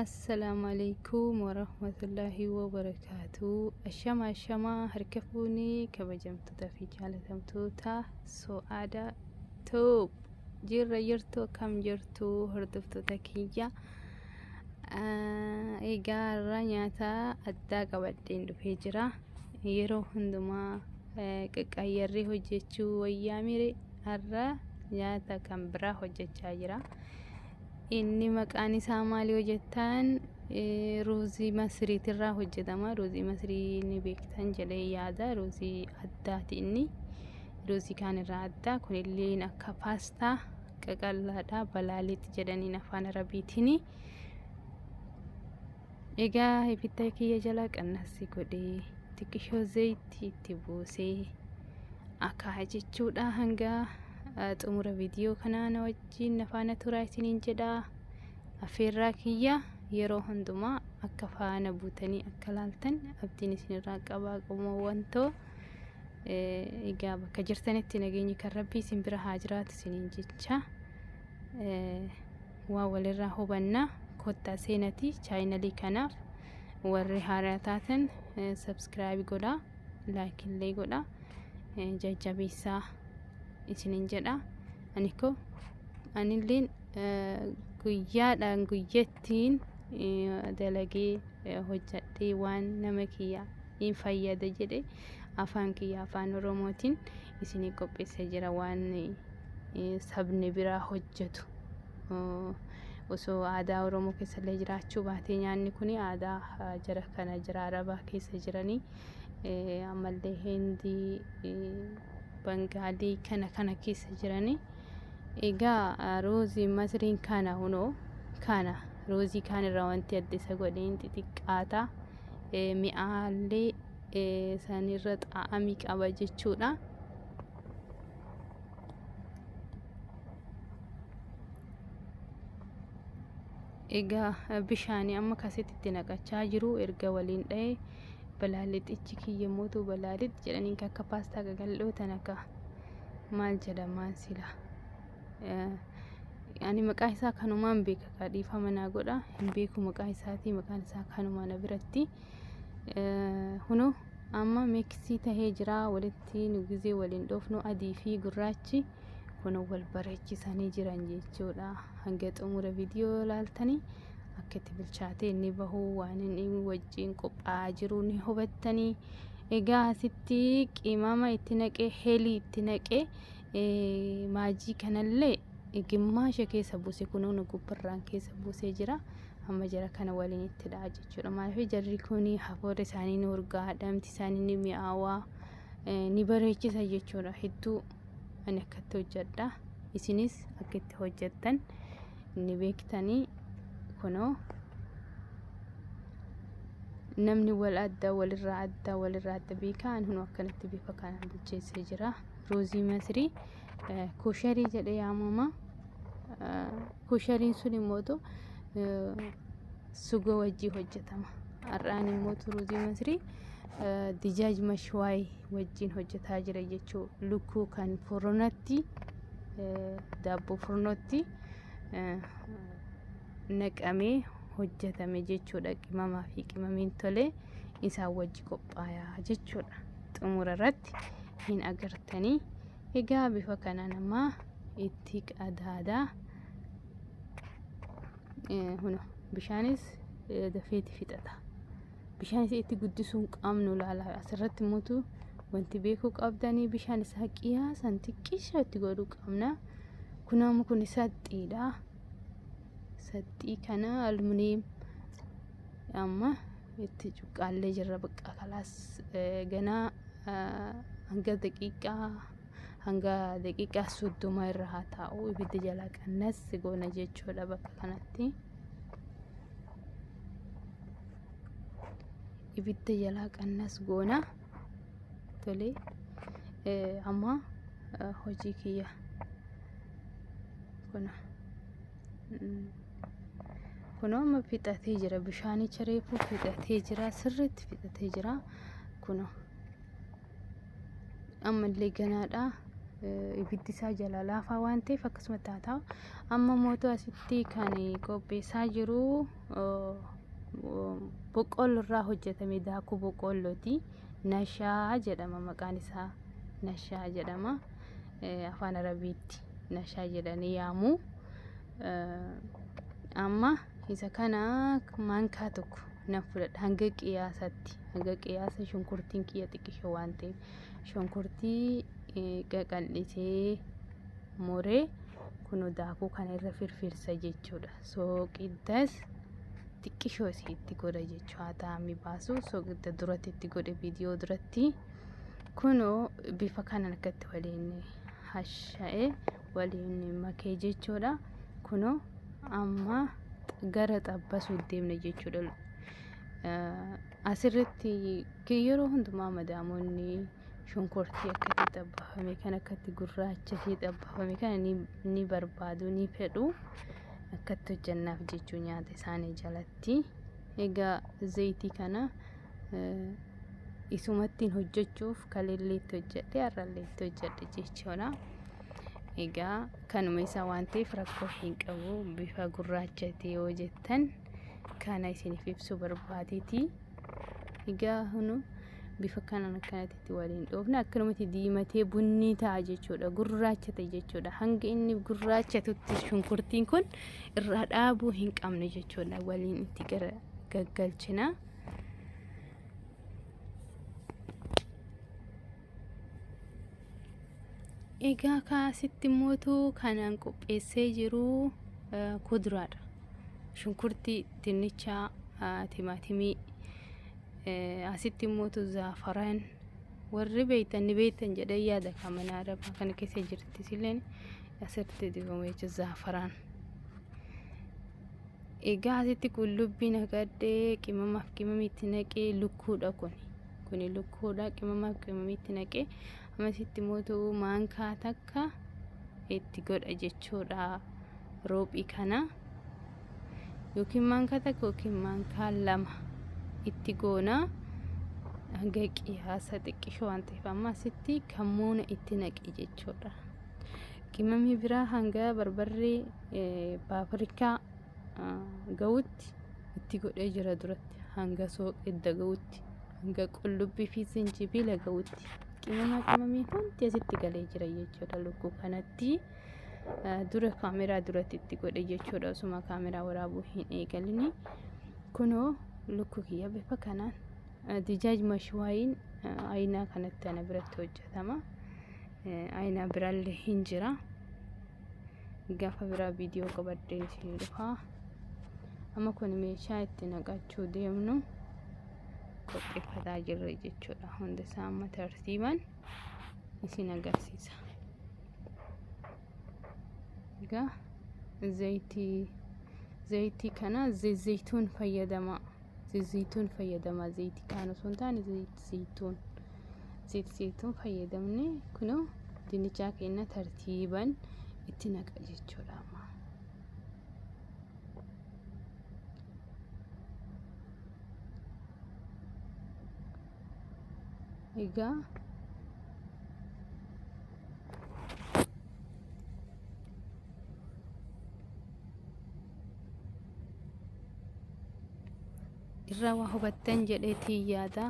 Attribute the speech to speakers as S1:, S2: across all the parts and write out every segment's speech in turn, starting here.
S1: Assalaamu alaikum warahmatullaahi wabarakaatuu. Ashama ashama harka fuuni kabajamtoota fi jaalatamtoota so'aada toob jirra jirtu akkam jirtu hordoftoota kiyya. Egaa irraa nyaata addaa qabadheen dhufee jira. Yeroo hundumaa qaqqaayyarree hojjechuu wayyaa mire Har'a nyaata kan biraa hojjechaa jira. Inni maqaan isaa maali yoo jettan eh, ruuzii masiriitirraa hojjetama. Ruuzii masirii ni beektan jedhee yaada. Ruuzii addaati inni. Ruuzii kaanirraa addaa. Kunillee akka paastaa qaqallaadha. Balaaliit jedhaniin afaan arabiitiin. Egaa ibidda kiyya jala qannassi godhee xiqqishoo zayitti itti buusee akaa'a jechuudha hanga eh, xumura viidiyoo kanaa na wajjin na faana turaa isiniin jedha affeerraa kiyya yeroo hundumaa akka faana buutanii akka laaltan abdiin isinirraa qabaa qomoowwan too Eh, egaa bakka jirtanitti nageenyi kan rabbii isin bira haa jiraatu isiniin jecha Eh, Waa walirraa hubanna kottaa seenati chaayinalii kanaaf warri haaraa taatan subscribe godha like illee godha jajjabeessaa isinin jedha aniko anilleen guyyaadhaan guyyattiin dalagee hojjadhee waan nama kiyya in fayyada jedhe afaan kiyya afaan oromootiin isinii qopheessee jira waan sabni biraa hojjetu. Osoo aadaa Oromoo keessallee jiraachuu baatee nyaanni kun aadaa jara kana jira Arabaa keessa jiranii ammallee Hindii, Bangaalii kana kana keessa jiranii. Egaa roozii masriin kana hunoo kana roozii kaan irraa wanti adda isa godheen xixiqqaata. Mi'aallee sanirra xaa'amii qaba jechuudha. egaa bishaanii amma kasitti itti naqachaa jiru erga waliin dha'e balaalixichi kiyya mootu balaalix jedhaniin akka paastaa gagaldhoo tan akka maal jedhamaan sila ani maqaa isaa kanumaan beeka kaa dhiifama naa godha hin beeku maqaa isaatii maqaan isaa kanuma na biratti hunoo Amma mixi tahee jira walitti nu gizee wal hin dhoofnu adii fi gurraachi kun wal bareechisanii jiran jechuudha. Hanga xumura viidiyoo yoo laaltanii akka itti bilchaatee inni bahu waan inni wajjin qophaa'aa jiru ni hubattanii. Egaa asitti qimama itti naqee helii itti naqee Maajii kanallee gimmaasha keessa buuse kunoo nu gubbarraan keessa buusee jira. Amma jara kana waliin itti dha'a jechuudha. Maaliif jarri kun hafuurri isaanii ni urgaa, dhamti isaanii ni mi'aawaa, ni bareechisa jechuudha. Hedduu ani akkatti hojjedha. Isinis akka itti hojjettan ni beektanii kunoo namni wal adda walirraa adda walirraa adda beekaa ani hunoo akkanatti bifa kanaan bilcheessee jira. Ruuzii Masrii kosharii jedhe yaamama. Koshariin sun immoo suga wajjii hojjetama. Har'aan immoo Ruuzii Masrii dijaaj mashwaay wajjin hojjetaa jira jechuu lukkuu kan furnatti daabboo furnootti naqamee hojjetame jechuudha qimamaa fi qimamiin tolee isaan wajji qophaayaa jechuudha. xumura irratti hin agartanii egaa bifa kana nama itti qadaadaa huna bishaanis dafeeti fixata bishaanis itti guddisuun qabnu laala asirratti mutu wanti beekuu qabdanii bishaan isaa qiyaasan xiqqisha itti godhuu qabna kunaamu kun saxxiidha saxxii kana aluminiyeem amma itti cuqqaallee jirra baqqaa kalaas ganaa hanga daqiiqaa hanga daqiiqaa soddoma irra haa taa'u ibidda jalaa qannas goona jechuudha bakka kanatti. Ibidda jalaa qannas goona tolee amma hojii kiyya kuna. Kun amma fixatee jira. Bishaanicha reefuu fixatee jira. Sirriitti fixatee jira. Kun ammallee ganaadha. Ibiddi isaa jalaa laafaa waan ta'eef akkasuma taata. Amma mootuu asitti kan qopheessaa jiru boqqolloo irraa hojjetame daakuu boqqollooti. Nashaa jedhama maqaan isaa. Nashaa jedhama. afaan arabiitti nashaa jedhanii yaamu amma isa kana maankaa tokko nan fudhadha hanga qiyaasatti hanga qiyaasa shunkurtiin kiyya xiqqisho waan ta'eef shunkurtii qaqal'isee moree kunoo daakuu kana irra firfirsa jechuudha sooqiddas xiqqishoo isii itti godha jechuu haa taa'amii baasu sooqidda duratti itti godhe viidiyoo duratti. Kunoo bifa kanaan akka itti waliin hasha'ee waliin makee jechuudha. Kunoo amma gara xabbasuu deemna jechuudha. Asirratti yeroo hundumaa madaamonni shunkurtii akkatti xabbafame kan akkatti gurraachasee xabbafame kana ni barbaadu ni fedhu akkatti hojjannaaf jechuu nyaata isaanii jalatti. Egaa zayitii kana isumattiin hojjechuuf kalillee itti hojjedhe har'allee itti hojjedhe jechuudha. Egaa kanuma isaa waan ta'eef rakkoo hin qabu bifa gurraacha ta'e yoo jettan kana isiniif ibsu barbaadeeti. Egaa hunu bifa kanaan akkanatti waliin dhoofne akkanumatti diimatee bunni ta'a jechuudha gurraacha ta'e jechuudha hanga inni gurraacha tutti shunkurtiin kun irraa dhaabuu hin qabne jechuudha waliin itti gara gaggalchina. Egaa kaasitti mootu kanaan qopheessee jiru kuduraadha. Shunkurtii, dinnichaa, timaatimii, asitti mootu zaafaraan warri beektan ni beektan jedhee yaada kamanaa arabaa kana keessa jirti silleen asitti dibama jechuun zaafaraan. Egaa asitti qullubbii naqadhee qimamaaf qimamii itti naqee lukkuudha kuni. Kuni lukkuudha qimamaaf qimamii itti naqee amma asitti mootu maankaa takka itti godha jechuudha roophii kana. Yookiin maankaa takka yookiin maankaa lama itti goona. Hanga qiyaasa xiqqishoo waan ta'eef amma asitti kammuuna itti naqe jechuudha. Qimamii biraa hanga barbarree paapirikaa ga'utti itti godhee jira duratti hanga sooqidda ga'utti hanga qullubbii fi zinjibiila ga'utti qimama qimamii hundi asitti galee jira jechuudha lukkuu kanatti dura kaameraa duratti itti godhe jechuudha osuma kaameraa waraabuu hin eegalini kunoo lukkuu kiyya bifa kanaan dijaaj mashwaayiin ayinaa kanatti ana biratti hojjetama. Ayina biralle hin jira. Gafa biraa viidiyoo qabadhee isin dhufa. Amma kun meeshaa itti naqachuu deemnu qopheeffataa jirra jechuudha. Hunda isaa amma tartiiban isin agarsiisa. Egaa zayitii zayitii kana zayituun fayyadamaa. Zayituun fayyadamaa zayitii kaan osoo hin taane zayituun zayituun fayyadamne kunoo dinnichaa keenya tartiiban itti naqa jechuudha amma. Egaa irraa waa hubattan jedheetii yaada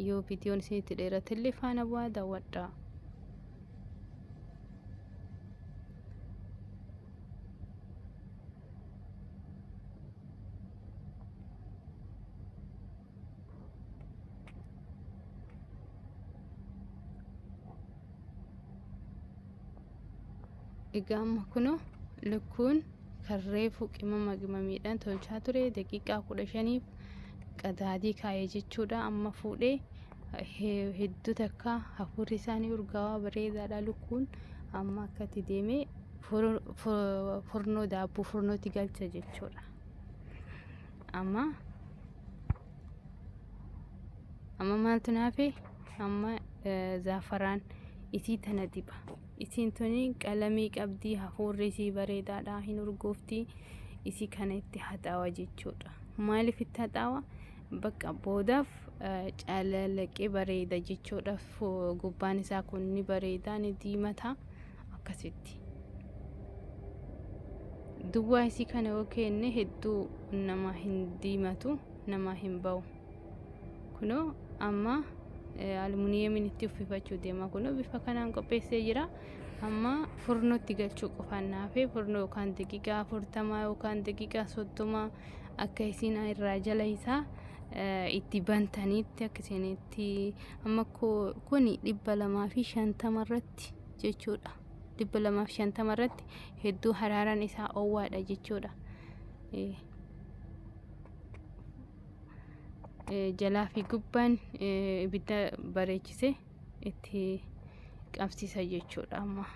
S1: yoo viidiyoon isinitti dheeratillee faana bu'aa daawwadha. egaa amma kuno lukkuun kan reefu qimama qimamiidhaan tolchaa ture daqiiqaa kudha shaniif qadaadii kaa'ee jechuudha amma fuudhee hedduu takka hafuurri isaanii urgaawaa bareedaadha lukkuun amma akkatti deemee furnoo daabboo furnootti galcha jechuudha. amma amma maaltu naafe amma zaafaraan isii tana diba isiin tuni qalamii qabdii hafuurri isii bareedaadha hin urgoofti isii kana itti haxaawa jechuudha maaliif itti haxaawa bakka boodaaf calalaqqee bareeda jechuudha gubbaan isaa kun ni bareeda ni diimata akkasitti duwwaa isii kana yoo keenne hedduu namaa hin diimatu namaa hin ba'u kunoo amma almuniyeemiin itti uffifachuu deema kunoo bifa kanaan qopheessee jira amma furnootti galchuu qofaan naafee furnoo yookaan daqiiqaa afurtamaa yookaan daqiiqaa soddomaa akka isiin irraa jala isaa itti bantaniitti akka isinitti amma kuni dhibba lamaa fi shantama irratti jechuudha. 250 irratti hedduu haraaraan isaa owwaadha jechuudha. Jalaa fi gubbaan ibidda bareechise itti qabsiisa jechuudha amma.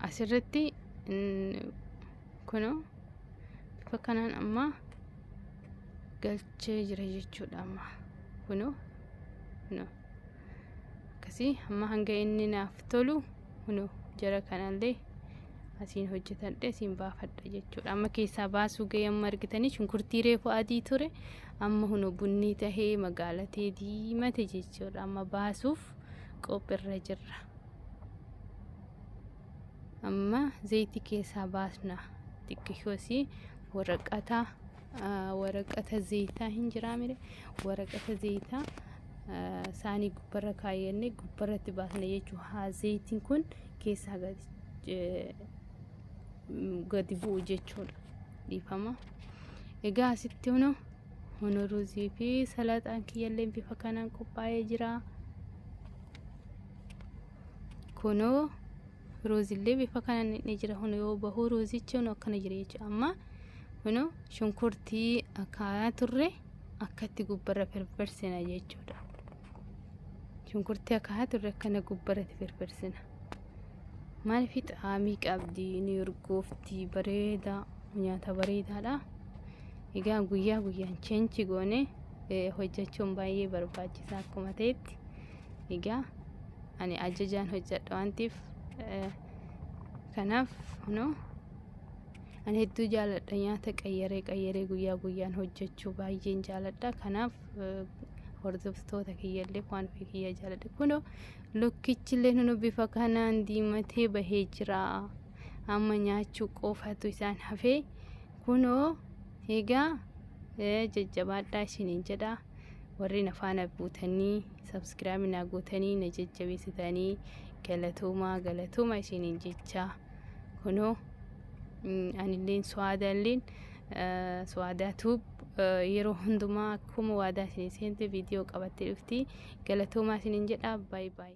S1: Asirratti kunoo bifa kanaan amma. galchee jira jechuudha amma kunoo kunoo akkasii amma hanga inni naaf tolu kunoo jara kanallee asiin hojjetadhe asiin baafadha jechuudha amma keessaa baasuu ga'ee amma argitanii shunkurtii reefu adii ture amma kunoo bunnii tahee magaalatee diimate jechuudha amma baasuuf qophiirra jirra. Amma zayitii keessaa baasna. Xiqqishosi waraqata waraqata zayitaa hin jiraa mire waraqata zayitaa saanii gubbarra kaayyannee gubbarratti baasna jechuu haa zayitiin kun keessaa gadi bu'u jechuudha. Dhiifama. Egaa asitti hunu hunu ruuzii fi salaaxaan kiyyalleen bifa kanaan qophaa'ee jira. Kunoo ruuzillee bifa kanaan ni jira. Kun yoo bahu ruuzichi kun akkana jira jechuudha. Amma kunoo shunkurtii akaayaa turre akkatti gubbarra firfirsina jechuudha. Shunkurtii akaayaa turre akkana gubbarratti firfirsina. Maaliif xaamii qabdi ni urgoofti bareedaa nyaata bareedaadha. Egaa guyyaa guyyaan cheenchi goone hojjechuun baay'ee barbaachisaa akkuma ta'etti. Egaa ani ajajaan hojjedha waan ta'eef kanaaf no ani hedduu jaaladha nyaata qayyaree qayyaree guyyaa guyyaan hojjechuu baay'een jaaladha kanaaf hordoftoota kiyyallee waan ofii kiyya jaaladha kuno lukkichillee nuno bifa kanaan diimatee bahee jira amma nyaachuu qofatu isaan hafee kunoo egaa jajjabaadhaa isiniin jedhaa. warri na faana buutanii sabskiraayib naa gootanii na jajjabeessitanii galatoomaa galatooma isiniin jecha kunoo anilleen suwaadaalleen suwaadaa tuub yeroo hundumaa akkuma waadaa isin seente viidiyoo qabattee dhufti galatoomaa isiniin jedha baay baay.